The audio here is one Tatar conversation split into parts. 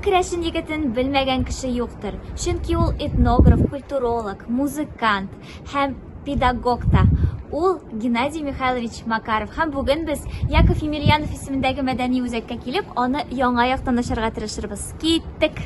керәшен егетен белмәгән кеше юктыр. Чөнки ул этнограф, культуролог, музыкант һәм педагог та. Ул Геннадий Михайлович Макаров һәм бүген без Яков Емельянов исемендәге мәдәни үзәккә килеп, аны яңа яктан ачарга тырышырбыз. Киттек!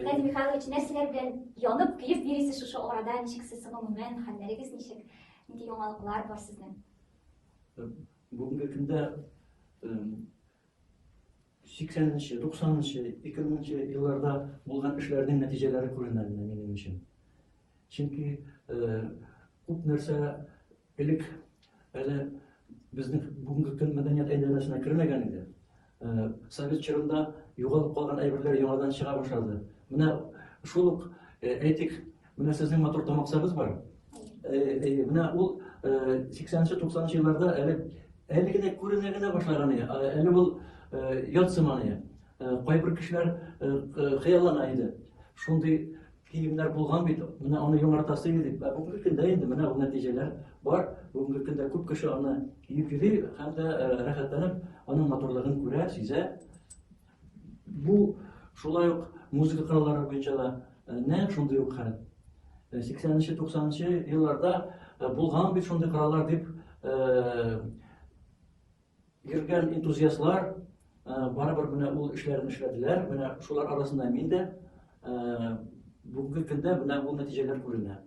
Геннадий Михайлович, нәрсәләр белән янып, көеп йөрисез шушы арада? Ничек сез гомумән, хәлләрегез ничек? Нинди яңалыклар бар сезнең? Бүгенге көндә 80-нче, 90-нчы, 2000-нче елларда булган эшләрнең нәтиҗәләре күренә минем өчен. Чөнки күп нәрсә Элек әле безнең бүгенге көн мәдәният әйләнәсенә кермәгән иде. Э, совет чорында югалып калган әйберләр яңадан чыга башлады. Менә шул ук э, әйтик, менә сезнең матур тамаксагыз бар. Э, менә ул 80-90 елларда әле әле генә күренә генә башлаган иде. Әле ул ят сыман иде. Кайбер кешеләр хыяллана иде. Шундый киемнәр булган бит, менә аны яңартасы иде дип. Ә бүгенге көндә инде менә ул нәтиҗәләр бар. Бүгенге көндә күп кеше аны киеп йөри һәм дә э, рәхәтләнеп аның матурлыгын күрә, сизә. Бу шулай ук музыка кораллары буенча да э, нәкъ шундый ук хәл. 80-90 э, елларда булган бит шундый кораллар дип Йөргән энтузиастлар барыбер менә ул эшләрен эшләделәр. Менә шулар арасында мин дә бүгенге көндә менә ул нәтиҗәләр күренә.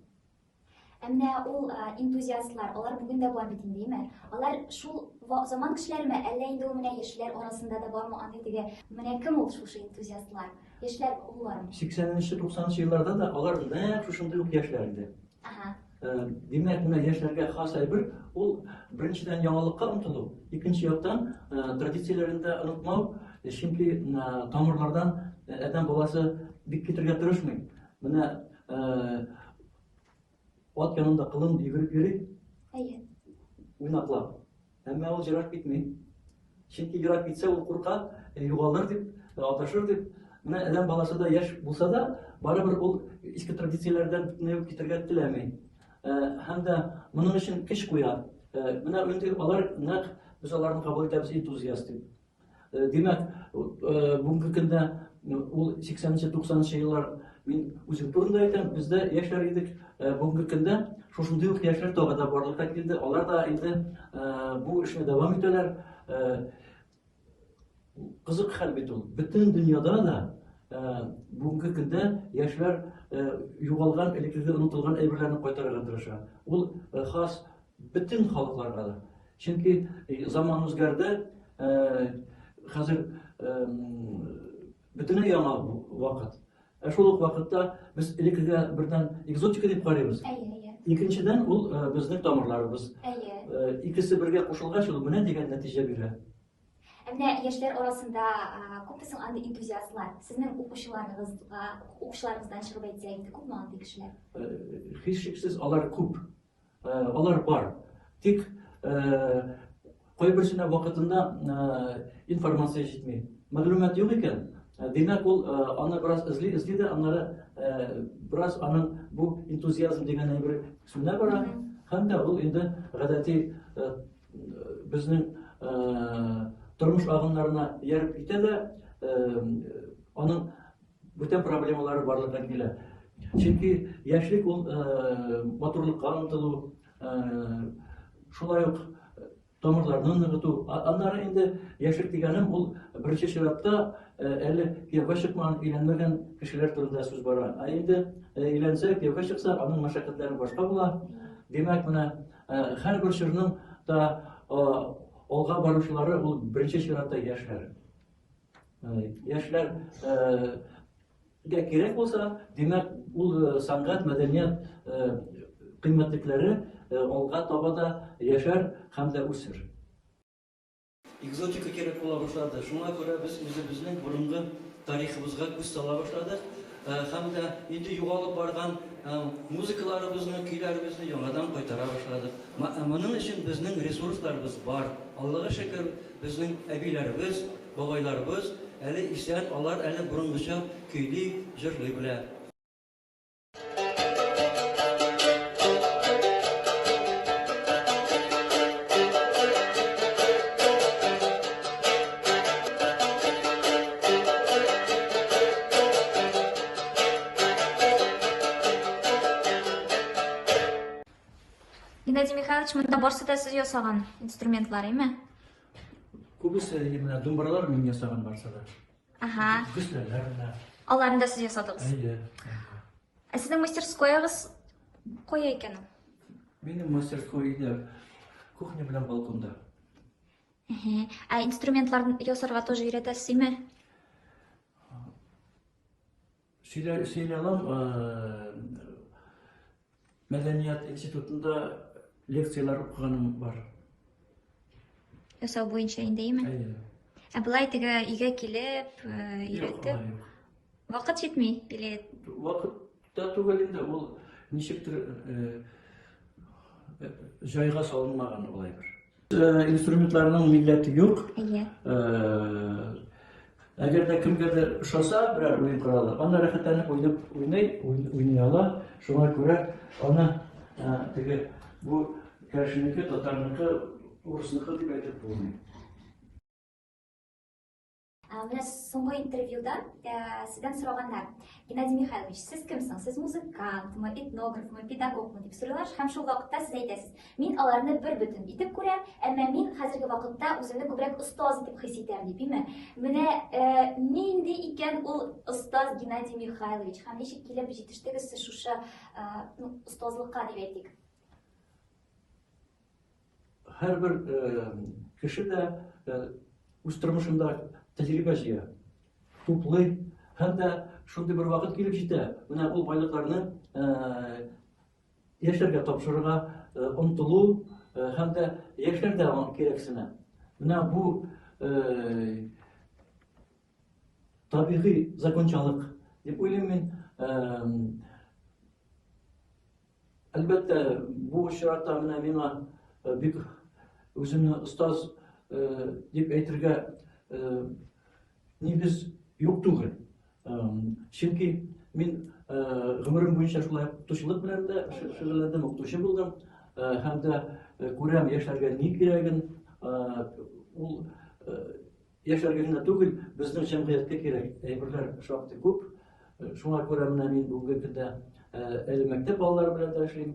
Әмма ул энтузиастлар, алар бүген дә бар бит инде, имеш. Алар шул заман кешеләреме, әллә инде ул менә яшьләр арасында да бармы аны теге? Менә кем ул шушы энтузиастлар? Яшьләр булармы? 80 нче, 90 нчы елларда да алар нәкъ шушындый ук яшьләр иде. Димәк, менә яшьләргә хас әйбер, ул беренчедән яңалыкка омтылу, икенче яктан традицияләрен дә онытмау, чөнки тамырлардан адәм баласы бик китергә тырышмый. Менә ат янында кылын йөгереп йөри. Әйе. Уйнаклап. Әмма ул җырак китми. Чөнки җырак китсә ул курка, югалыр дип, аташыр дип. Менә әдәм баласы да яшь булса да, барыбер ул иске традицияләрдән бөтенләй үк китәргә теләми. Һәм дә моның өчен көч куя. Менә инде алар нәкъ без аларны кабул итәбез энтузиаст дип. Э, димәк э, бүгенге көндә э, ул 80-нче 90-нчы еллар мин үзем турында әйтәм бездә яшьләр идек бүгенге көндә шушындый ук яшьләр тагы да барлыкка килде алар да инде бу эшне дәвам итәләр кызык хәл бит ул бөтен дөньяда да бүгенге көндә яшьләр югалган элеккеге онытылган әйберләрне кайтарырга тырыша ул хас Бөтен халыкларга да. Чөнки заман үзгәрде, хәзер бөтенләй яңа вакыт. Ә шул ук вакытта без элеккегә бердән экзотика дип карыйбыз. Икенчедән ул безнең тамырларыбыз. Икесе бергә кушылгач, ул менә дигән нәтиҗә бирә. Ә менә яшьләр арасында күпме соң андый энтузиастлар? Сезнең укучыларыгызга, укучыларыгыздан чыгып әйтсә инде, күпме андый кешеләр? Һичшиксез алар күп. Алар бар. Тик кайберсенә вакытында информация җитми. Мәгълүмат юк икән, димәк ул аны бераз эзли, эзли дә аннары бераз аның бу энтузиазм дигән әйбер сүнә бара. Һәм дә ул инде гадәти безнең тормыш агымнарына ияреп китә дә, аның Бүтән проблемалары барлыкка килә. Чөнки яшьлек ул матурлыкка омтылу, шулай ук тамырларны ныгыту. Аннары инде яшьлек дигәнем ул беренче чиратта әле кияүгә чыкмаган, өйләнмәгән кешеләр турында сүз бара. Ә инде өйләнсә, кияүгә чыкса, аның мәшәкатьләре башка була. Димәк, менә һәрбер чорның да алга баручылары ул беренче чиратта яшьләр. Яшьләр гә кирәк булса, димәк, ул сәнгать, мәдәният кыйммәтлекләре алга таба да яшәр һәм дә үсер. Экзотика кирәк була башлады. Шуңа күрә без үзебезнең борынгы тарихыбызга күз сала башладык һәм дә инде югалып барган музыкаларыбызны, көйләребезне яңадан кайтара башладык. Моның өчен безнең ресурсларыбыз бар. Аллага шөкер, Безнең әбиләребез, бабайларыбыз әле исән, алар әле борынгыча көйли, җырлый белә. Геннадий Михайлович, монда барсы да сез ясаган инструментлар, әйме? Күбесе менә думбралар мин ясаган барсы да. Ага. Гөсләләр менә. Аларны да сез ясадыгыз. Әйе. Ә сезнең мастерскоягыз кая икән ул? Минем мастерской иде кухня белән балконда. Әһә. Ә инструментлар ясарга тоже өйрәтәсезме? Сөйләй алам, мәдәният институтында лекцияләр укыганым бар. Ясау буенча индеме? Әйе. Ә былай теге өйгә килеп, өйрәтеп. Вакыт җитми или Вакыт та түгел инде, ул ничектер җайга салынмаган улай бер. Э, инструментларның милләте юк. Әйе. Э, әгәр дә кемгәдер ошаса берәр уен коралы, аны рәхәтләнеп уйнап уйный, уйный ала. Шуңа күрә аны э, теге бу кәшнеке, татарныкы, урысныкы дип әйтеп булмый. Ә, менә соңгы интервьюда ә, сездән сораганнар, Геннадий Михайлович, сез кемсең? Сез музыкантмы, этнографмы, педагогмы дип сорыйлар, һәм шул вакытта сез әйтәсез, мин аларны бер бөтен итеп күрәм, әмма мин хәзерге вакытта үземне күбрәк остаз итеп хис итәм, дип име? Менә ә, нинди икән ул остаз Геннадий Михайлович, һәм ничек килеп җитештегез сез шушы ә, ну, остазлыкка дип әйтик? Һәрбер кеше дә үз тормышында тәҗрибә җыя, туплый һәм дә шундый бер вакыт килеп җитә, менә ул байлыкларны яшьләргә тапшырырга омтылу һәм дә яшьләр дә аңа кирәксенә. Менә бу табигый закончалык дип уйлыйм мин. Әлбәттә, бу очракта менә миңа э, бик үземне остаз э, дип әйтергә э, нигез юк түгел. Чөнки мин гомерем буенча шулай укытучылык белән дә шөгыльләндем, укытучы булдым һәм дә күрәм яшьләргә ни кирәген, ул Яшьләргә генә түгел, безнең җәмгыятькә кирәк әйберләр шактый күп. Шуңа күрә менә мин бүгенге көндә әле мәктәп балалары белән дә эшлим,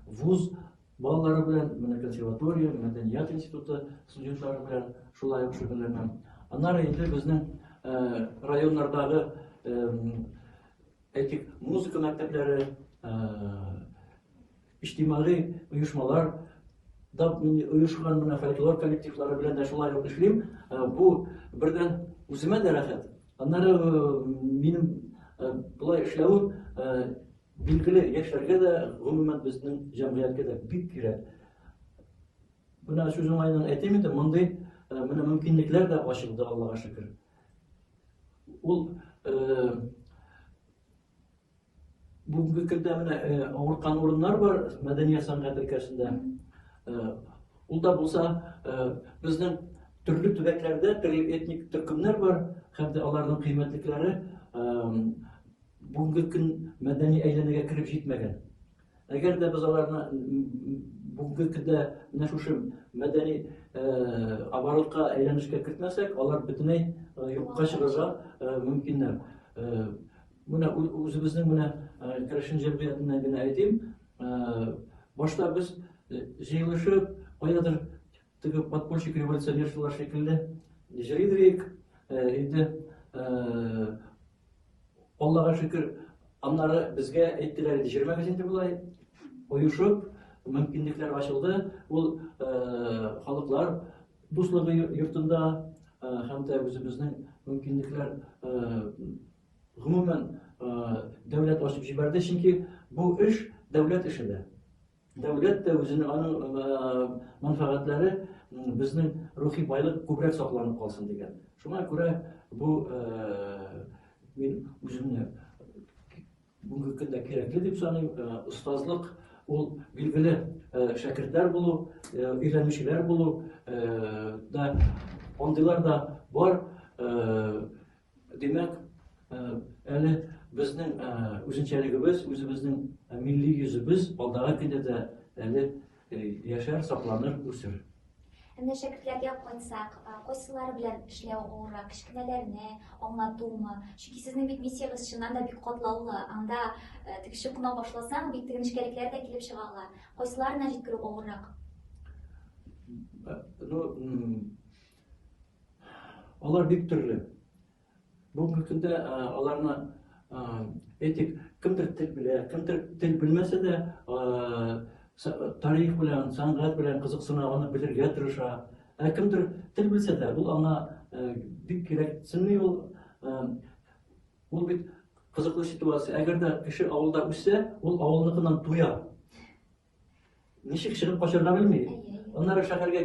вуз балалары белән, менә консерватория, мәдәният институты студентлары белән шулай ук шөгыльләнәм. Аннары инде безнең районнардагы Әйтик, музыка мәктәпләре, иҗтимагый оешмалар да оешкан менә фольклор коллективлары белән дә шулай ук эшлим. Бу бердән үземә дә рәхәт. Аннары минем болай эшләвем билгеле яшьләргә дә, гомумән безнең җәмгыятькә дә бик кирәк. Менә сүз уңаеннан әйтим инде, мондый менә мөмкинлекләр дә ачылды, Аллага шөкер. Ул бүгенге көндә менә авырткан урыннар бар мәдәният сәнгать өлкәсендә. Ул да булса безнең төрле төбәкләрдә төрле этник төркемнәр бар һәм дә аларның кыйммәтлекләре бүгенге көн мәдәни әйләнәгә кереп җитмәгән. Әгәр дә без аларны бүгенге көндә менә шушы мәдәни оборотка әйләнешкә кертмәсәк, алар бөтенләй юкка чыгарга мөмкиннәр. Менә үзебезнең менә керәшен җәмгыятеннән генә әйтим, башта без җыелышып, каядыр теге подпольщик революционерчылар шикелле җырлыйдык, инде Аллага шөкер, аннары безгә әйттеләр инде, җөрмәгез инде болай, оешып, мөмкинлекләр ачылды. Ул халыклар дуслыгы йортында һәм дә үзебезнең мөмкинлекләр гомумән дәүләт ачып җибәрде, чөнки бу эш дәүләт эше дә. Дәүләт тә үзенең аның мәнфәгатьләре безнең рухи байлык күбрәк сакланып калсын дигән. Шуңа күрә бу мин үземне бүгенге көндә кирәкле дип саныйм. Остазлык ул билгеле шәкертләр булу, өйрәнүчеләр булу да андыйлар да бар. Димәк, әле безнең үзенчәлегебез, үзебезнең милли йөзебез алдагы көндә дә әле яшәр, сакланыр, үсер. Әнә шәкертләргә кайтсак, кайсылары белән эшләү авыррак, кечкенәләрне аңлатумы? Чөнки сезнең бит миссиягез чыннан да бик катлаулы. Анда тегеше куна башласаң, бик теге нечкәлекләр дә килеп чыга ала. Кайсыларына җиткерү авыррак? Ну, Алар бик төрле. Бүгенге көндә аларны әйтик, кемдер тел белә, кемдер тел белмәсә дә, тарих белән, сәнгать белән кызыксына, аны белергә тырыша. Ә кемдер тел белсә дә, ул аңа бик кирәксенми ул. Ул бит кызыклы ситуация. Әгәр дә кеше авылда үссә, ул авылныкыннан туя. Ничек чыгып качарга белми. Аннары шәһәргә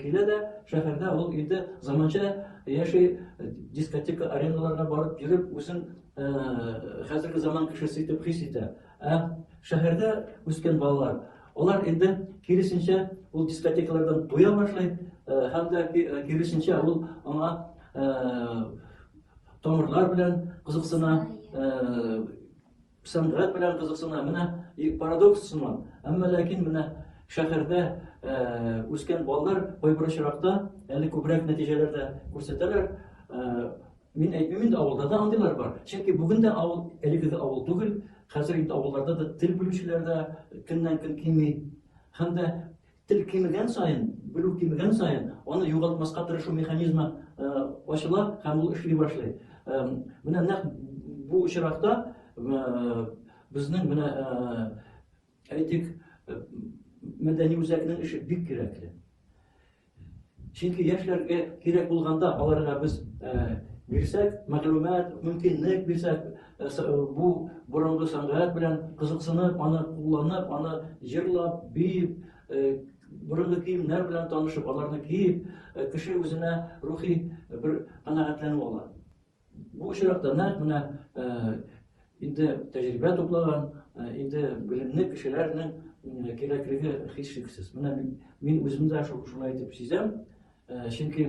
килә дә, шәһәрдә ул инде заманча яши, дискотека арендаларга барып йөреп, үзен хәзерге заман кешесе итеп хис итә. Ә шәһәрдә үскән балалар, алар инде киресенчә ул дискотекалардан туя башлый, һәм дә киресенчә ул аңа тамырлар белән кызыксына, Сәнгать белән кызыксына. Менә парадокс сыман. Әмма ләкин менә шәһәрдә үскән балалар кайбер очракта әле күбрәк нәтиҗәләр дә күрсәтәләр. Мин әйтмим инде, авылда да андыйлар бар. Чөнки бүген дә авыл, әлеге дә авыл түгел, хәзер инде авылларда да тел белүчеләр дә көннән-көн кими. Һәм дә Тел кимегән саен, белү кимегән саен, аны югалтмаска тырышу механизмы ачыла һәм ул эшли башлый. Менә нәкъ бу очракта безнең менә әйтик мәдәни үзәкнең эше бик кирәкле. Чөнки яшьләргә кирәк булганда аларга без бирсәк, мәгълүмат, мөмкинлек бирсәк, бу борынгы сәнгать белән кызыксынып, аны кулланып, аны җырлап, биеп, борынгы киемнәр белән танышып, аларны киеп, кеше үзенә рухи бер канәгатьләнү ала. Бу очракта нәкъ менә инде тәҗрибә туплаган, инде белемле кешеләрнең кирәклеге һичшиксез. Менә мин үзем дә шулай итеп сизәм, чөнки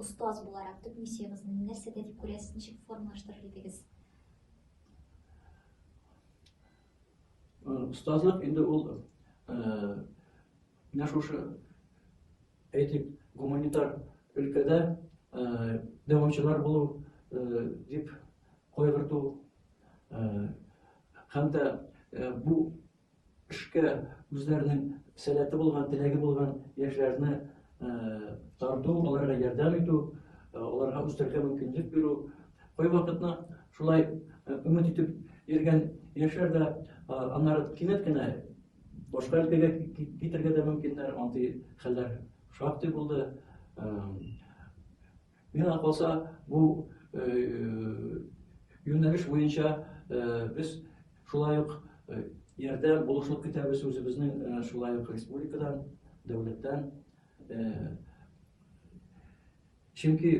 Остаз буларак төп миссиягезне нәрсәдә дип күрәсез, ничек формалаштырыр идегез? Остазлык инде ул Менә шушы әйтик, гуманитар өлкәдә дәвамчылар булу дип кайгырту һәм дә бу эшкә үзләренең сәләте булган, теләге булган яшьләрне тарту, аларга ярдәм итү, аларга үстерергә мөмкинлек бирү. Кайвакытны шулай өмет итеп йөргән яшьләр дә аннары кинәт кенә Башка өлкәгә китергә дә мөмкиннәр, андый хәлләр шактый булды. Миңа калса, бу юнәлеш буенча без шулай ук ярдә булышлык көтәбез үзебезнең шулай ук республикадан, дәүләттән. Чөнки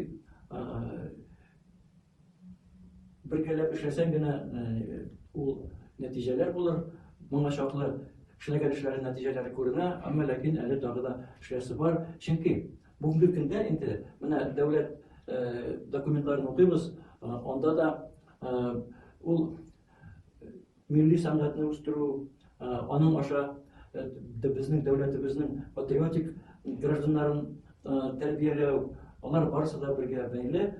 бергәләп эшләсәң генә ул нәтиҗәләр булыр. Моңа чаклы эшләгән эшләре нәтиҗәләре күренә, әмма ләкин әле тагы да эшләсе бар. Чөнки бүгенге көндә инде менә дәүләт документларын укыйбыз, анда да ул милли сәнгатьне үстерү, аның аша безнең дәүләтебезнең патриотик гражданнарын тәрбияләү, алар барысы да бергә бәйле.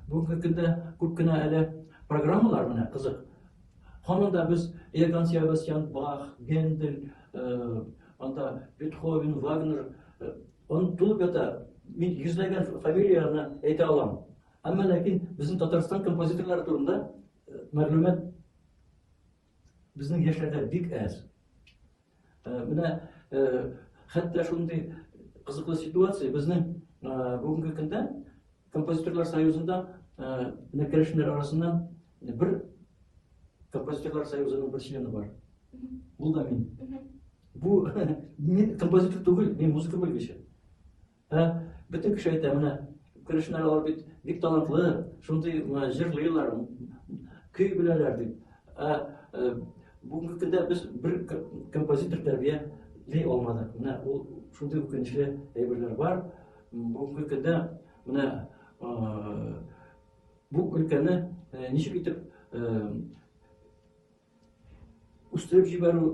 Бүгенге көндә күп кенә әле программалар менә кызык. Һаман да без Иоганн Себастьян Бах, Гендель, анда Бетховен, Вагнер, он тулып ята. Мин йөзләгән фамилияләрне әйтә алам. Әмма ләкин безнең Татарстан композиторлары турында э, мәгълүмат безнең яшьләрдә бик әз. Э, менә э, хәтта шундый кызыклы ситуация безнең бүгенге көндә композиторлар союзында менә керәшеннәр арасыннан бер композиторлар союзының бер члены бар. Ул да мин. Бу мин композитор түгел, мин музыка белгече. Ә бөтен кеше әйтә, менә керәшеннәр алар бит бик талантлы, шундый җырлыйлар, көй беләләр дип. Ә э, бүгенге көндә без бер композитор тәрбияли алмадык. Менә ул шундый үкенечле әйберләр бар. Бүгенге көндә менә э, бу өлкәне э, ничек итеп Үстереп җибәрү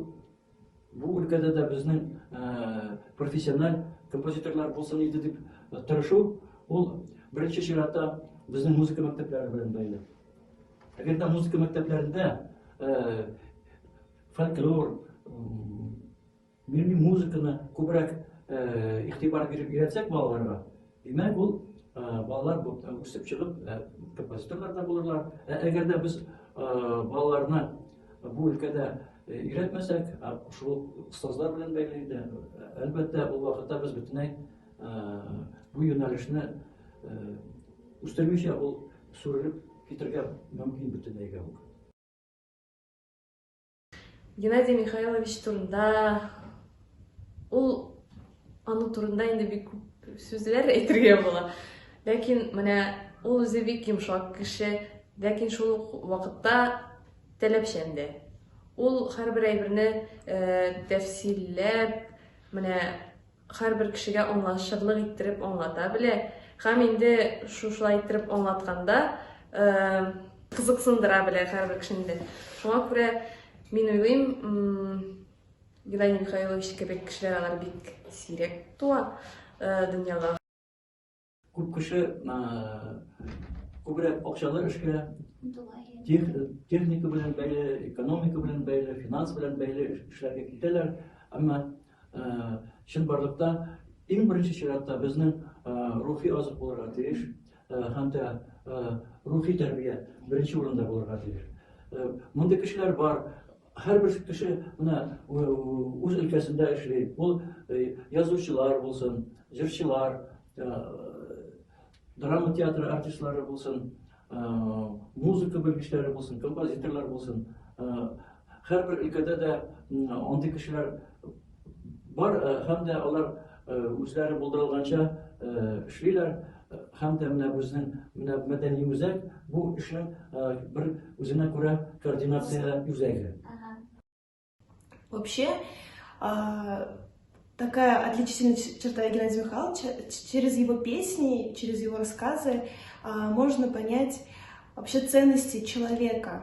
бу өлкәдә дә безнең профессиональ композиторлар булсын иде дип тырышу, ул беренче чиратта безнең музыка мәктәпләре белән бәйле. Әгәр дә музыка мәктәпләрендә фольклор, Милли музыканы күбрәк игътибар биреп өйрәтсәк балаларга, димәк ул балалар үсеп чыгып композиторлар да булырлар. Ә әгәр дә без балаларны бу өлкәдә өйрәтмәсәк, шул остазлар белән бәйле иде. Әлбәттә, ул вакытта без бөтенләй бу юнәлешне үстермичә ул сүрелеп китергә мөмкин бөтенләйгә үк. Геннадий Михайлович турында ул аның турында инде бик күп сүзләр әйтергә була. Ләкин менә ул үзе бик йомшак кеше, ләкин шул вакытта таләпчән дә. Ул һәрбер әйберне э, тәфсилләп, менә Һәрбер кешегә аңлашырлык иттереп аңлата белә һәм инде шушылай иттереп аңлатканда кызыксындыра белә һәрбер кешене дә. Шуңа күрә мин уйлыйм, Геннадий Михайлович кебек кешеләр алар бик сирәк туа дөньяга. Күп кеше күбрәк акчалы эшкә техника белән бәйле, экономика белән бәйле, финанс белән бәйле эшләргә китәләр. Әмма чынбарлыкта иң беренче чиратта безнең рухи азык булырга тиеш һәм дә рухи тәрбия беренче урында булырга тиеш. Мондый кешеләр бар, Һәрбер кеше менә үз өлкәсендә эшли. Ул язучылар булсын, җырчылар, драма театры артистлары булсын, музыка белгечләре булсын, композиторлар булсын. Һәрбер өлкәдә дә андый кешеләр бар һәм дә алар үзләре булдырылганча эшлиләр һәм дә менә безнең менә мәдәни үзәк бу эшнең бер үзенә күрә координация үзәге. Вообще, такая отличительная черта Геннадия Михайловича, через его песни, через его рассказы можно понять вообще ценности человека,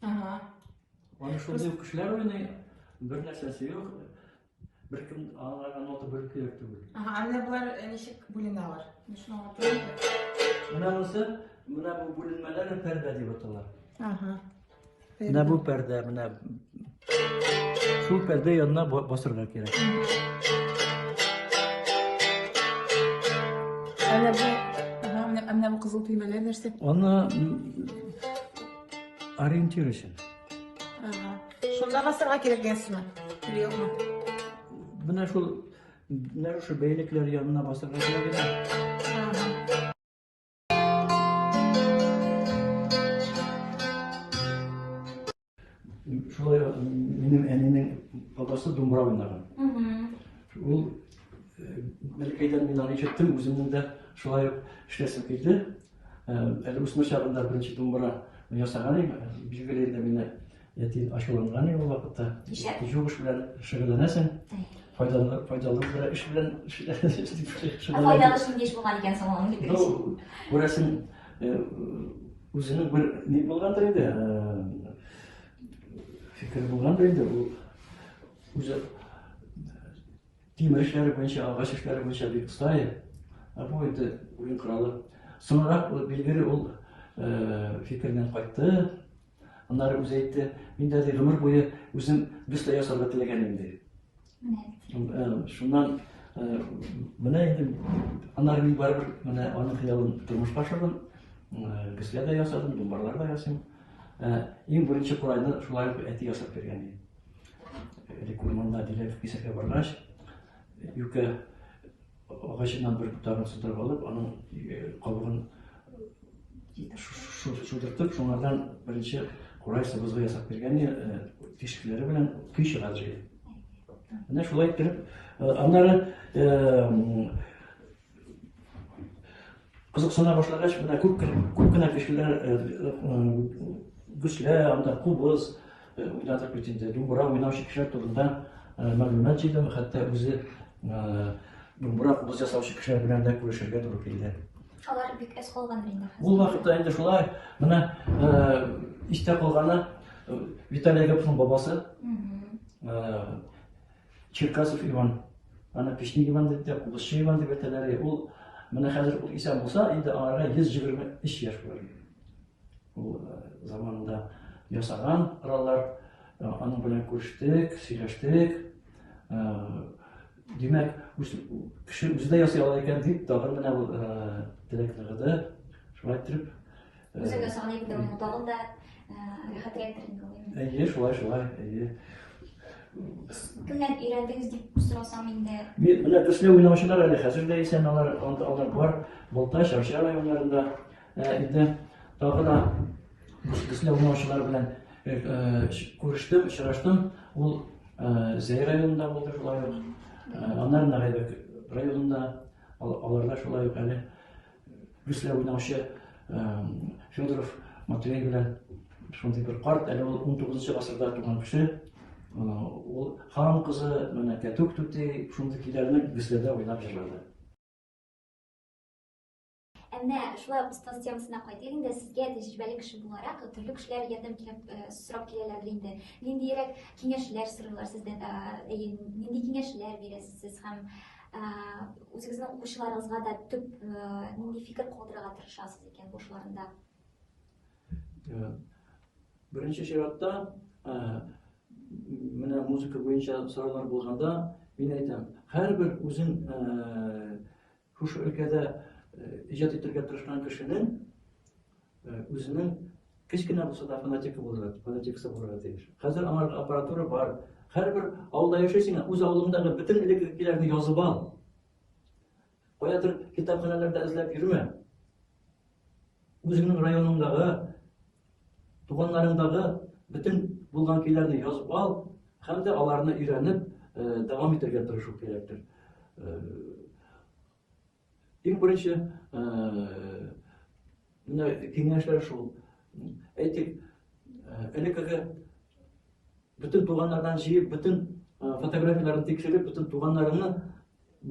Ага. Аны шундый ук кешеләр уйный, бер нәрсәсе юк. Беркем аңларга нота бүлекләр түгел. Ага, ә менә болар э, ничек бүленәләр? Дошманга түгел. Менә монысы, менә бу бүленмәләр пәрдә дип атала. Ага. Менә бу пәрдә, менә шул пәрдә янына басырга кирәк. Ә менә бу, ага, менә бу кызыл төймәләр нәрсә? Аны Ориентир өчен. Ага. Шунда басырга кирәк гәсме? Юкмы? Менә шул менә шул бәйлекләр янына басырга кирәк. Ага. Шулай минем әнинең бабасы думбра уйнаган. Ул Мәлкәйдән мин аны ишеттем, үземнең дә шулай ук эшләсем килде. Әле үсмер чагында беренче думбыра ясаган иде. Билгеле инде мине әти ачуланган иде ул вакытта. Югыш белән шөгыльләнәсең. Файдалы файдалы бер эш белән шөгыльләнәсең. Файдалы шундый эш булган икән соң аның фикеренчә. Ну, күрәсең, үзенең бер ни булгандыр инде. Фикер булгандыр инде ул. Үзе Тимер эшләре буенча, агач эшләре буенча бик оста иде. Ә бу инде уен коралы. Соңрак билгеле ул э, фикереннән кайтты. Аннары үзе әйтте, мин дә гомер буе үзем бюста ясарга теләгән инде. Э, шуннан э, менә инде аннары мин барыбер менә аның хыялын тормышка ашырдым. Бюстә дә ясадым, думбарлар да ясыйм. Иң беренче курайны шулай әти ясап биргән иде. Элек урманда диләр кисәргә баргач, юкә агачыннан бер ботагын сыдырып алып, аның кабыгын шудыртып, шуңардан беренче курай сыбызгы ясап биргән тишекләре белән көй чыгар җыйды. Менә шулай иттереп, аннары Кызыксына башлагач, менә күп күп кенә кешеләр гөслә, анда кубыз, уйнадык бит инде, думбра уйнаучы кешеләр турында мәгълүмат җыйдым, хәтта үзе думбра кубыз ясаучы кешеләр белән дә күрешергә туры килде. Алар бик әз калган инде. Ул вакытта инде шулай, менә истә калганы Виталий Гаповның бабасы. Черкасов Иван. Аны Печник Иван дип тә, Кубызчы Иван дип әйтәләр. Ул менә хәзер ул исән булса, инде аңарга 123 яшь булыр. Ул э, заманында ясаган кораллар, э, аның белән күрештек, сөйләштек. Э, димәк, кеше үзе дә ясый ала икән дип, тагын менә ул теләк ныгыды. Шулай итеп, Үзеңә саный бит аны тагын да рәхәтрәк инде ул. Әйе, шулай, шулай, әйе. Кемнән өйрәндегез дип сорасам инде. Мин менә төсле уйнаучылар әле хәзер дә исән алар, алар бар. Болтай, Шарча районнарында инде тагы да төсле уйнаучылар белән күрештем, очраштым. Ул Зәй районында булды шулай ук. Аннары Нарайбәк районында аларда шулай ук әле Бөслә уйнаучы Федоров Матвей белән шундый бер карт, әле ул 19 гасырда туган кеше. Ул хан кызы, менә Кәтүк түти шундый көйләрне Бөсләдә уйнап җырлады. Әнә шулай ук остаз темасына кайтыйк инде. Сезгә тәҗрибәле кеше буларак, төрле кешеләр ярдәм кирәк сорап киләләрдер инде. Ниндиерәк киңәшләр сорыйлар сездән? Әйе, нинди киңәшләр бирәсез сез һәм Үзегезнең укучыларыгызга да төп нинди фикер калдырырга тырышасыз икән бу эшләрендә? Беренче чиратта менә музыка буенча сораулар булганда мин әйтәм, һәрбер үзен шушы өлкәдә иҗат итәргә тырышкан кешенең Үзенең кечкенә булса да фанатикы булырга, фанатикасы булырга тиеш. Хәзер аңа аппаратура бар. Һәрбер авылда яшәсең, үз авылыңдагы бөтен элеккеләрне язып ал. Каядыр китапханәләрдә эзләп йөрмә. Үзеңнең районыңдагы, туганнарыңдагы бөтен булган көйләрне язып ал һәм дә аларны өйрәнеп дәвам итәргә тырышу кирәктер. Иң беренче менә киңәшләр шул. Әйтик, элеккеге бөтен туганнардан җыеп, бөтен фотографияләрен тикшереп, бөтен туганнарыңны,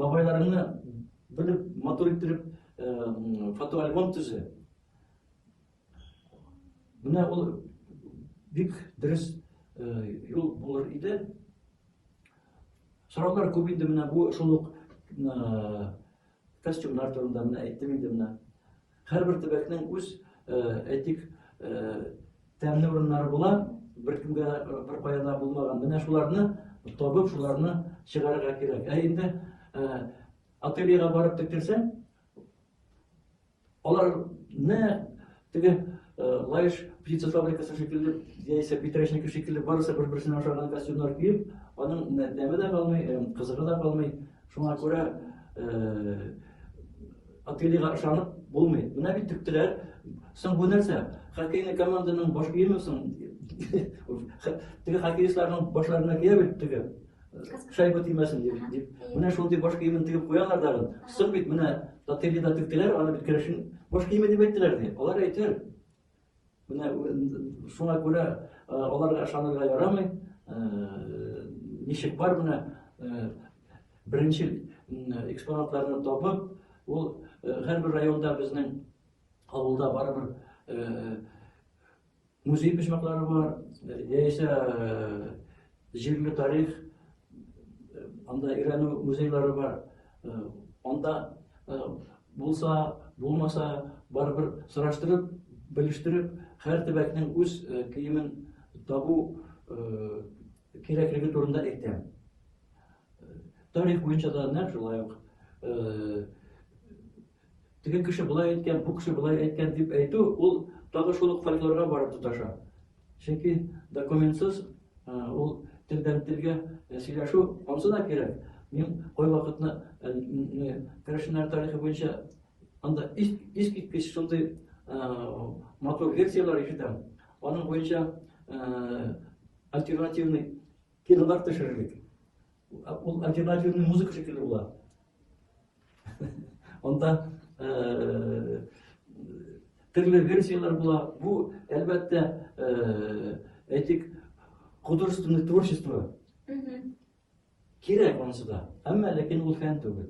бабайларыңны белеп, матур иттереп фотоальбом төзе. Менә ул бик дөрес юл булыр иде. Сораулар күп инде менә бу шул ук костюмнар турында менә әйттем инде менә. Һәрбер төбәкнең үз әйтик тәмле урыннары була, беркемгә беркая да булмаган. Менә шуларны табып, шуларны чыгарырга кирәк. Ә инде ательега барып тектерсәң, Алар не теге лаеш птица фабрикасы шикелле, яисә питрәчники шикелле барысы бер-берсенә ошаган костюмнар киеп, аның тәме дә калмый, кызыгы да калмый. Шуңа күрә Отелига ышанып булмый. Менә бит тектеләр. Соң бу нәрсә? Хоккейный команданың баш киеме соң? Теге хоккеистларның башларына кия бит теге. Шай бу тимәсен дип, дип. Менә шул дип баш киемен тигеп куялар да. Сыр бит менә татыйли да тектеләр, аны бит керешен баш киеме дип әйттеләр ди. Алар әйтер. Менә шуңа күрә аларга ышанырга ярамый. Ничек бар менә беренче экспонатларны табып, ул һәрбер районда безнең авылда барыбер Музей почмаклары бар, яисә җирле тарих, анда өйрәнү музейлары бар. Анда булса, булмаса, барыбер сораштырып, белештереп, һәр төбәкнең үз киемен табу кирәклеге турында әйтәм. Тарих буенча да нәкъ шулай ук Теге кеше болай әйткән, бу кеше болай әйткән дип әйтү, ул тагы шул ук фольклорга барып тоташа. Чөнки документсыз ул телдән-телгә сөйләшү ансы да кирәк. Мин кайвакытны керәшеннәр тарихы буенча анда искиткеч шундый матур лекцияләр ишетәм. Аның буенча альтернативный кинолар төшерелик. Ул альтернативный музыка шикелле була. Анда төрле версияләр була. Бу, әлбәттә, әйтик, художественное творчество. Кирәк анысы да. Әмма ләкин ул фән түгел.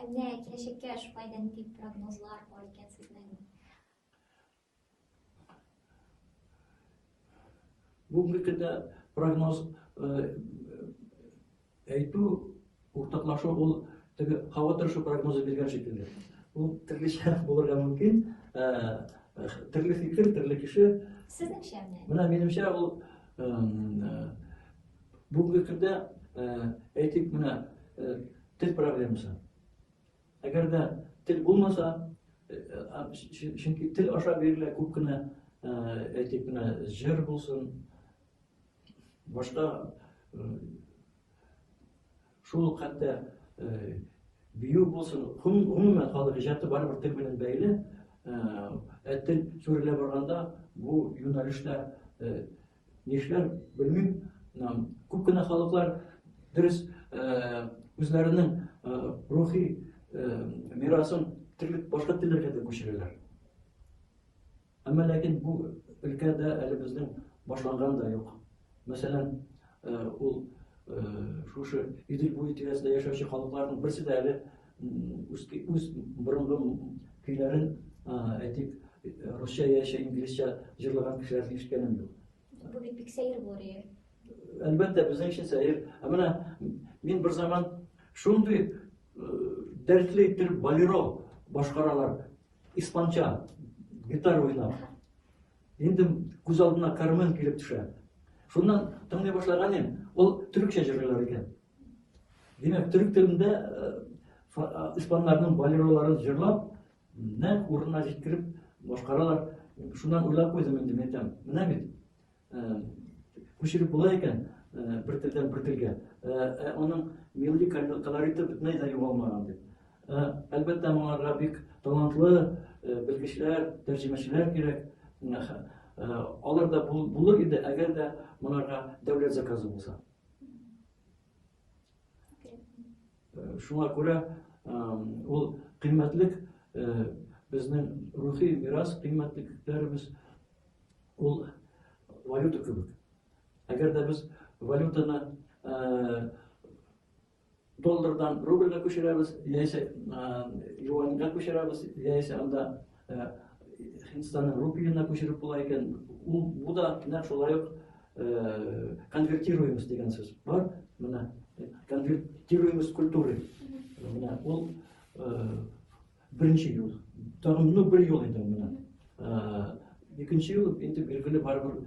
Әнә киләчәккә шулай да нинди прогнозлар бар икән сезнең? Бүгенге көндә прогноз әйтү, уртаклашу ул теге һава торышы прогнозы биргән шикелле. Ул төрлечә булырга мөмкин. Төрле фикер, төрле кеше. Сезнеңчә менә? Менә минемчә ул Бүгенге көндә әйтик менә тел проблемасы. Әгәр дә тел булмаса, чөнки тел аша бирелә күп кенә әйтик менә җыр булсын, башка шул ук хәтта бию булсын, гомумән халык иҗаты барыбер тел белән бәйле. Ә тел сүрелә барганда бу юнәлештә Нишләр, белмим, күп кенә халыклар дөрес үзләренең рухи мирасын төрле башка телләргә дә күчерәләр. Әмма ләкин бу өлкәдә әле безнең башланган да юк. Мәсәлән, ул шушы Идел буе тирәсендә яшәүче халыкларның берсе дә әле үз борынгы көйләрен, әйтик, русча яшә инглизчә җырлаган кешеләрне ишеткәнем юк. Бу бит бик сәер булыр иде. Әлбәттә, безнең өчен сәер. Ә менә мин бер заман шундый дәртле итеп балеро башкаралар. Испанча гитара уйнап. Инде күз алдына Кармен килеп төшә. Шуннан тыңлый башлаган ем, ул төрекчә җырлыйлар икән. Димәк, төрек телендә испаннарның балероларын җырлап, нәк урынына җиткереп башкаралар. Шуннан уйлап куйдым инде мин тәм. Менә бит. Күчереп була икән бер телдән бер телгә. Аның милли колориты бөтенләй дә югалмаган дип. Әлбәттә, моңарга бик талантлы белгечләр, тәрҗемәчеләр кирәк. Алар да булыр иде, әгәр дә моңарга дәүләт заказы булса. Шуңа күрә ул кыйммәтлек безнең рухи мирас кыйммәтлекләребез ул валюта кебек. Әгәр дә без валютаны Доллардан рубльгә күчерәбез, яисә юаньгә күчерәбез, яисә анда Һиндстанның рупиена күчереп була икән. Бу да нәкъ шулай ук конвертируемость дигән сүз бар. Менә конвертируемость культуры. Менә ул беренче юл. Тагын ну бер юл инде менә. Икенче юл инде билгеле барыбер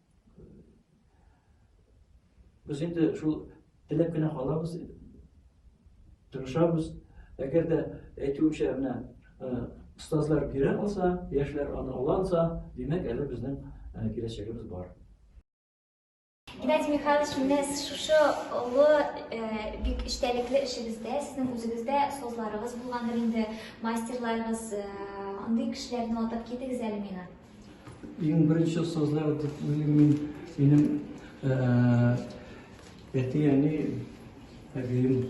Без инде шул теләп кенә калабыз, тырышабыз. Әгәр дә әйтүемчә менә остазлар бирә алса, яшьләр аны ала алса, димәк, әле безнең киләчәгебез бар. Геннадий Михайлович, менә шушы олы бик эчтәлекле эшегездә, сезнең үзегездә остазларыгыз булгандыр инде, мастерларыгыз, андый кешеләрне атап китегез әле миңа. Иң беренче остазлар дип уйлыйм мин минем әти әни әбием.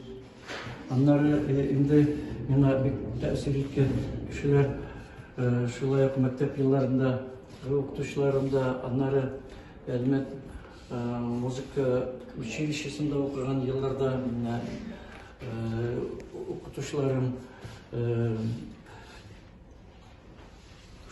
Аннары инде миңа бик тәэсир иткән кешеләр шулай ук мәктәп елларында укытучыларым да, аннары Әлмәт музыка училищесында укыган елларда укытучыларым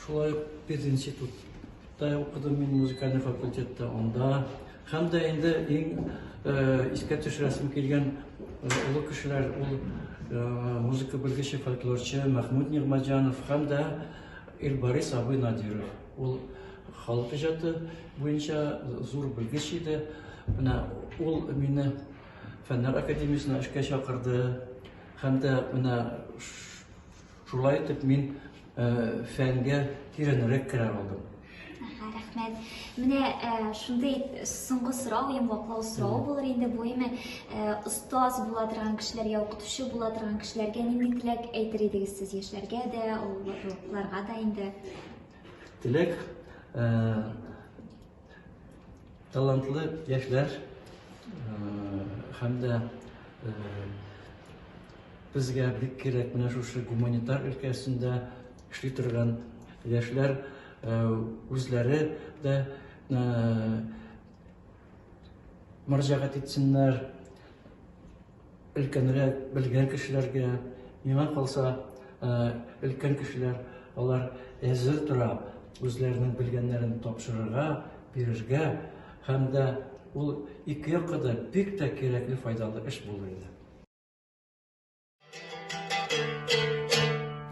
Шулай ук пединститутта укыдым мин музыкальный факультетта анда. Һәм дә инде иң э, искә төшерәсем килгән э, олы кешеләр ул э, музыка белгече, фольклорчы Мәхмүд Нигмаҗанов һәм дә Илбарис абый Надиров. Ул халык иҗаты буенча зур белгеч иде. Менә ул мине фәннәр академиясенә эшкә чакырды һәм дә менә Шулай итеп мин фәнгә тирәнрәк керә алдым. Рәхмәт. Менә шундый соңгы сорау, йомгаклау сорау булыр инде бу име. Остаз була торган кешеләргә, укытучы була торган кешеләргә нинди теләк әйтер идегез сез яшьләргә дә, олыларга да инде? Теләк Талантлы яшьләр һәм дә безгә бик кирәк менә шушы гуманитар өлкәсендә эшли торган яшьләр үзләре дә мөрәҗәгать итсеннәр Өлкәнрәк, белгән кешеләргә, миңа калса, өлкән кешеләр, алар әзер тора үзләренең белгәннәрен тапшырырга, бирергә һәм дә ул ике якка да бик тә кирәкле, файдалы эш булыр иде.